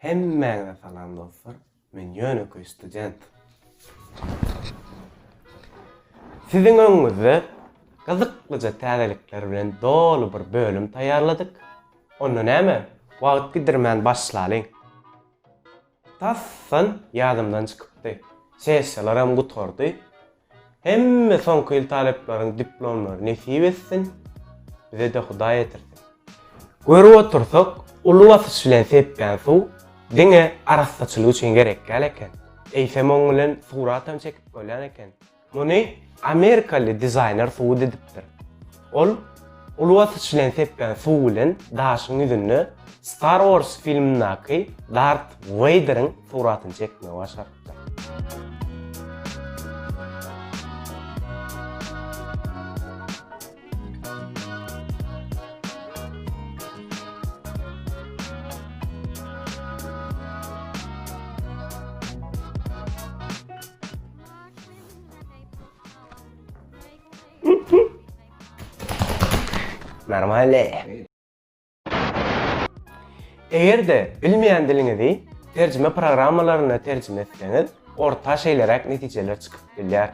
Hemmäňize salam dostlar. Men ýönekeý student. Siziň öňüňizde gyzyklyja täzelikler bilen doly bir bölüm taýýarladyk. Onda näme, wagt gidirmän başlalyň. Tasdan ýadymdan çykypdy. Sessiýalaram gutardy. Hemme soňky ýyl talyplaryň diplomlary nesip etsin, bize-de Hudaý ýetirsin. Görüp otursak, uly basyş bilen sepýän suw diňe arassaçylyk üçin gerek däl eken. Eýsem oň bilen suratam çekip bolýan eken. Muny amerikaly dizaýner subut edipdir. Ol uly basyş bilen sepgän suw bilen daşyň ýüzünde Star Wars filmindäki Dart Weýderiň suratyny çekmegi başarypdyr. Normalny. Eger-de bilmeýän diliňizi terjime programmalaryna terjime etseňiz, orta şeýleräk netijeler çykyp bilýär.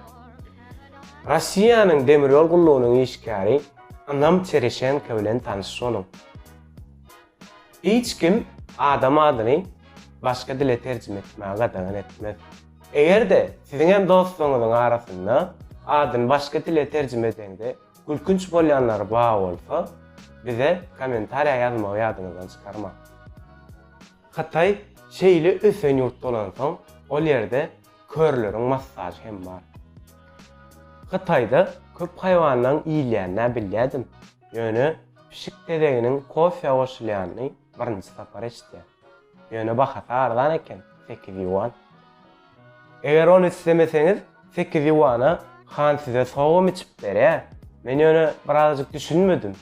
Russiýanyň demir ýol gullugynyň işgäri Anam Çereşenko bilen tanyşyş boluň. Hiç kim adam adyny başga dile terjime etmäge gadagan etmez. Eger-de siziň hem dostlaryňyzyň arasynda adyny başga dile terjime edeňde gülkünç bolýanlary bar bolsa, bize kommentariýa ýazmagy ýadyňyzdan çykarmaň. Hytaý şeýle ösen ýurt bolansoň, ol ýerde körleriň massažy hem bar. Hytaýda köp haýwanlaň iýilýänini-ä bilýädim. Ýöne pişik tezeginiň kofýa goşulýanyny birinji sapar eşitýär. Ýöne bahasy arzan eken, sekiz ýuan. Eger ony islemeseňiz, sekiz ýuana han size sogam içip berýär. Men ýöne birazajyk düşünmedim.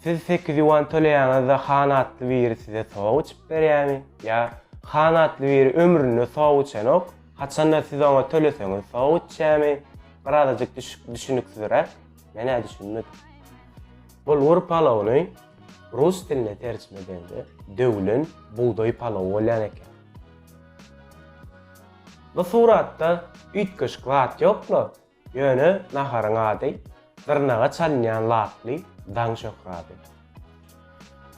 Siz sekiz ýuan töleýäňiz-de han atly biri size sogam içip berýärmi? Ýa han atly biri ömründe sogam içenok, haçanda siz oňa töleseňiz sogam içýärmi? Birazajyk düşüniksizräk. Men-ä düşünmedim. Bulgur palawyny rus diline terjime edende döwlen bugdaý palawy bolýan eken. Bu suratda üýtgeşik zat ýok-la, ýöne naharyň ady dyrnaga çalynýan laply daň şöhraty.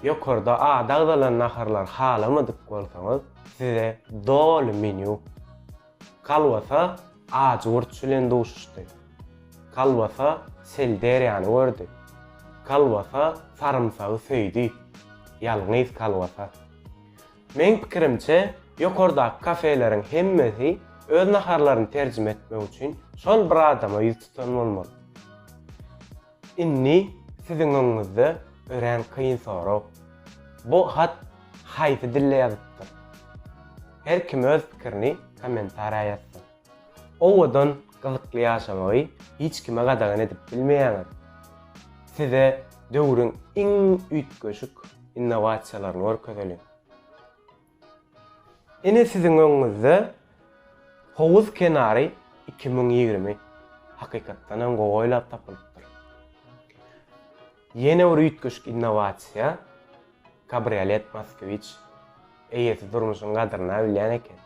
Ýokarda ady agzalan naharlary halamadyk bolsaňyz, size doly menýu. Kolbasa ajy gurt bilen duşuşdy. Kolbasa sel derýany gördi. Kolbasa sarymsagy söýdi. Ýalňyz kolbasa. Meň pikirimçe, ýokardaky kafeleriň hemmesi öz naharlaryny terjime etmek üçin şol bir adama ýüz tutan bolmaly. Indi siziň öňüňizde örän kyn sorag. Bu hat haýsy dilde ýazypdyr? Her kim öz pikirini kommentariýa ýazsyn. Owadan, gyzykly ýaşamagy hiç kime gadagan edip bilmeýäňiz. Size döwrüň iň üýtgeşik innowasiýalaryny görkezeliň. Ine siziň öňüňizde Howuz kenary iki müň ýigrimi hakykatdan hem gowy oýlap tapylypdyr. Ýene bir üýtgeşik innowasiýa, kabriolet Moskwiç. Eýesi durmuşyň gadyryna bilýän eken.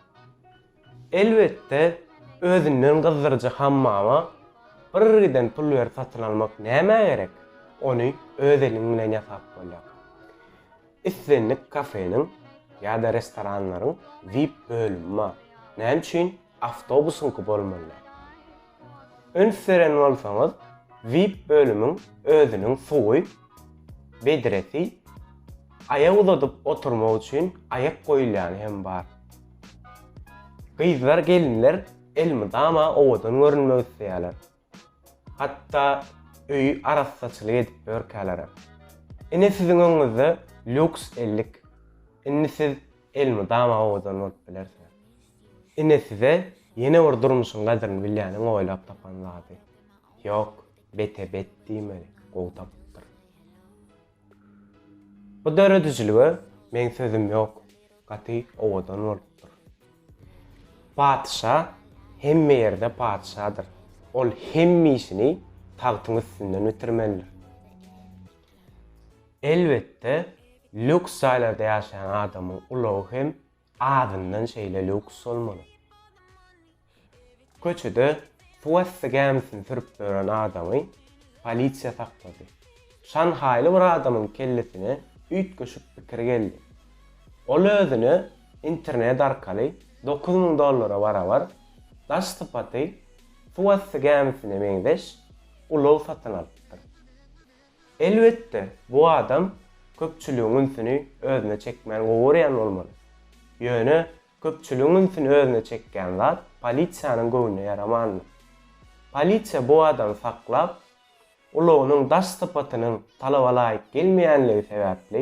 Elbetde, özünden gyzdyryjy hammama bir giden pul berip satyn almak nämä gerek? Ony öz eliň bilen ýasap bolýar. Islendik kafeniň ýa-da restoranlaryň vip bölümi bar. Näme üçin awtobusyňky bolmaly däl? Üns beren bolsaňyz, vip bölümiň özüniň suwy, bedresi, aýak uzadyp oturmak üçin aýak goýulýany hem bar. Gyzlar, gelinler elmydama owadan görünmek isleýärler. Hatda öýi arassaçylyk edip ýörkälerem. Ine siziň öňüňizde lýuks ellik. Indi siz elmydama owadan bolup bilersiňiz. Ine size ýene bir durmuşyň gadryny bilýäniň oýlap tapan zady. Ýok, bete bet diýmeli, gowy tapypdyr. Bu döredijilige meň sözüm ýok gaty owadan bolupdyr. Patyşa hemme ýerde patyşadyr ol hemme işini tagtyň üstünden bitirmelidir. Elbetde lýuks jaýlarda ýaşaýan adamyň ulagy hem Azyndan şeýle lýuks bolmaly. Köçede suwasty gämisini sürüp ýören adamy polisiýa saklady. Şanhaýly bir adamyň kellesine üýtgeşik pikir geldi. Ol özüne internet arkaly dokuz müň dollara barabar, daş sypaty suwasty gämisine meňzeş ulag satyn alypdyr. Elbetde, bu adam köpçüligiň ünsüni özüne çekmäni gowy görýän bolmaly. Ýöne köpçüligiň ünsüni özüne çekýän zat polisiýanyň göwnüne ýaramandyr. Polisiýa bu adamy saklap, ulagynyň daş sypatynyň talaba laýyk gelmeýänligi sebäpli,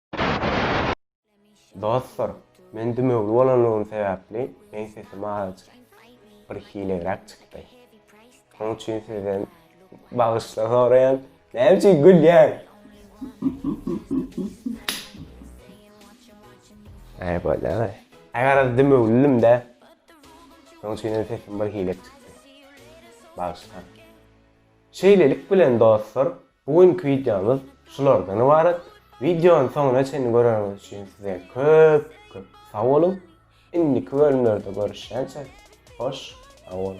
Dostlar, men dümewli bolanlygym sebäpli meň sesim azajyk bir hilegräk çykdy. Şonuň üçin sizden bagyşlyk soraýan. Näme üçin gülýäň? Näme bolýar? Agaraz dümewlilimdä. Şonuň üçin hem sesim bir hile çykdy. Bagyşlaň. Şeýlelik bilen dostlar, Bu günki wideomyz şulardan ybarat. Wideony soňuna çenli göreniňiz üçin size köp köp sag boluň. Indiki bölümlerde görüşýänçä hoş sag boluň.